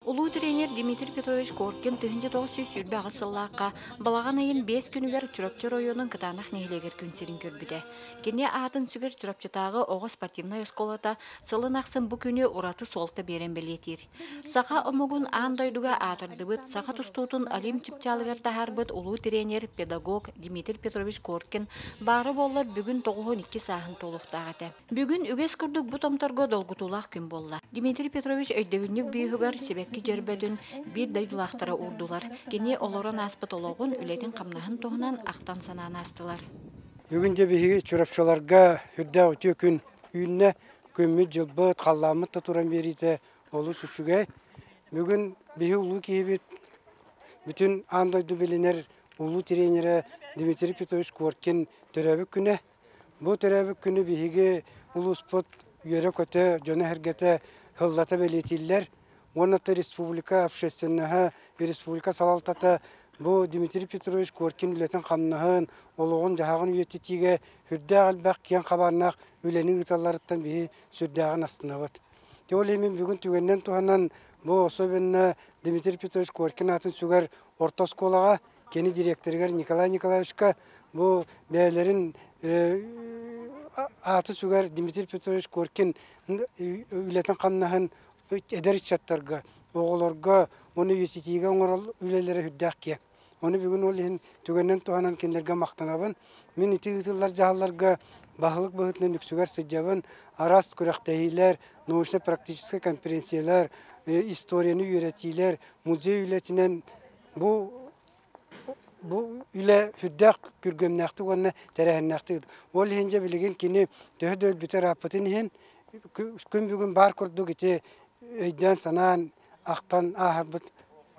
Улуу тренер Дмитрий Петрович Коркин тыһыынча тоҕус сүүс сүүрбэ аҕыс сыллаахха балаҕан ыйын биэс күнүгэр Чурапчы оройуонун Кытаанах нэһилиэгэр күн сирин көрбүтэ. Кини аатын сүгэр Чурапчытааҕы оҕо спортивнай оскуолата сылын ахсын бу күнү ураты суолта биэрэн бэлиэтиир. Саха омугун аан дойдуга аатырдыбыт, саха тустуутун Олимп чыпчаалыгар таһаарбыт улуу тренер, педагог Дмитрий Петрович Коркин баара буоллар бүгүн тоҕуһун икки сааһын туолуохтаах этэ. Бүгүн үгэс курдук бу томторго долгутуулаах күн буолла. Дмитрий Петрович өйдөбүнньүк биюһугар сибэкки дьөрбөтүн биир дойдулаахтара уурдулар. Кини олорон ааспыт олоҕун, үлэтин-хамнаһын туһунан ахтан-санаан аастылар. Бүгүн дьэ биһиги Чурапчыларга үрдээх үтүө күн үүннэ. Күммүт-дьылбыт, халлааммыт да туран биэриитэ олус үчүгэй. Бүгүн биһи улуу киһибит, бүтүн аан дойду билинэр улуу тренерэ Дмитрий Петрович Коркин төрөөбүт күнэ. Бу төрөөбүт күнү биһиги улууспут үөрэ-көтө, дьоно-сэргэтэ сыллата бэлиэтииллэр уонна то республика общественноһа, республика салалтата бу Дмитрий Петрович Коркин үлэтин-хамнаһын, олоҕун-дьаһаҕын үйэтитиигэ сүрдээх элбэх киэҥ хабааннаах үлэни ыыталларыттан биһи сүрдээҕин астынабыт. Ол иһин бүгүн түгэнинэн туһанан бу особенно Дмитрий Петрович Коркин аатын сүгэр орто оскуолаҕа Кини директорыгар Николай Николаевичка бу бэйэлэрин ааты сүгэр Дмитрий Петрович Коркин үлэтин-хамнаһын эдэр ыччаттарга, оҕолорго уонна үйэтитиигэ оҥорол үлэлэрэ үрдээх киэҥ. Ону бүгүн ол иһин түгэнинэн туһанан кинилэргэ махтанабын. Мин ити ыытыллар дьаһалларга баһылык быһыытынан үксүгэр сылдьабын. Араас күрэхтэһиилэр, научно-практическай конференциялар, историяны үөрэтиилэр, музей үлэтинэн Бу бу үлэ сүрдээх күргүөмнээхтик уонна тэрээһиннээхтик. Ол иһин дьэ билигин кини төһө да өлбүтэр ааппытын иһин күн бүгүн баар курдук ити өйдөөн-санаан, ахтан ааһарбыт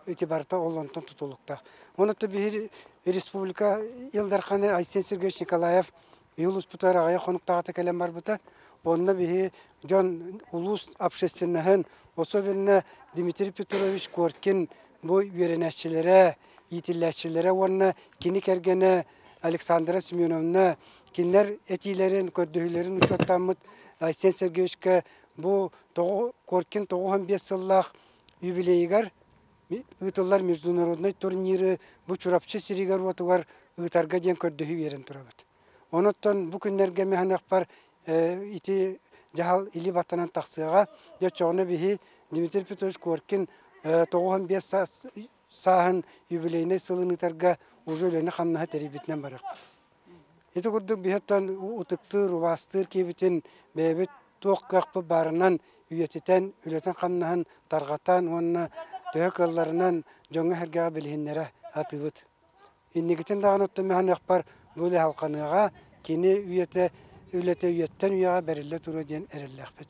ити барыта ол онтон тутулуктаах. Ону то биһи республика Ил Дархана Айсен Сергеевич Николаев Иулуспутугар аҕыйах хонуктаахыта кэлэн барбыта. Онно биһи дьон улуус общественноһын, особенно Дмитрий Петрович Коркин бу үөрэнээччилэрэ, иитиллээччилэрэ уонна кини кэргэнэ Александра Семеновна кинилэр этиилэрин, көрдөһүүлэрин учуоттааммыт Айсен Сергеевичкэ бу тоҕу Коркин тоҕус уон биэс сыллаах юбилейыгар ыытыллар международнай турниры бу Чурапчы сиригэр-уотугар ыытарга диэн көрдөһүү биэрэн турабыт. Онуттан бу күннэргэ механахпар ити дьаһал или баттанан тахсыаҕа. Дьэ, оччоҕуна биһи Дмитрий Петрович Коркин тоҕуһун биэс сааһын юбилейнай сылын ыытарга уже үлэни-хамнаһы тэрийбитинэн барыахпыт. Ити курдук биһиттэн ытыктыыр, убаастыыр киһибитин бэйэбит туох кыахпыт баарынан үйэтитэн, үлэтин-хамнаһын тарҕатан уонна төһө кыалларынан дьоҥҥо-сэргэҕэ билиһиннэрэ атыыбыт. Инникитин даҕаны оттон механиахпар бу үлэ салҕаныаҕа, кини үйэтэ, үлэтэ үйэттэн үйэҕэ бэриллэ туруо диэн эрэллээхпит.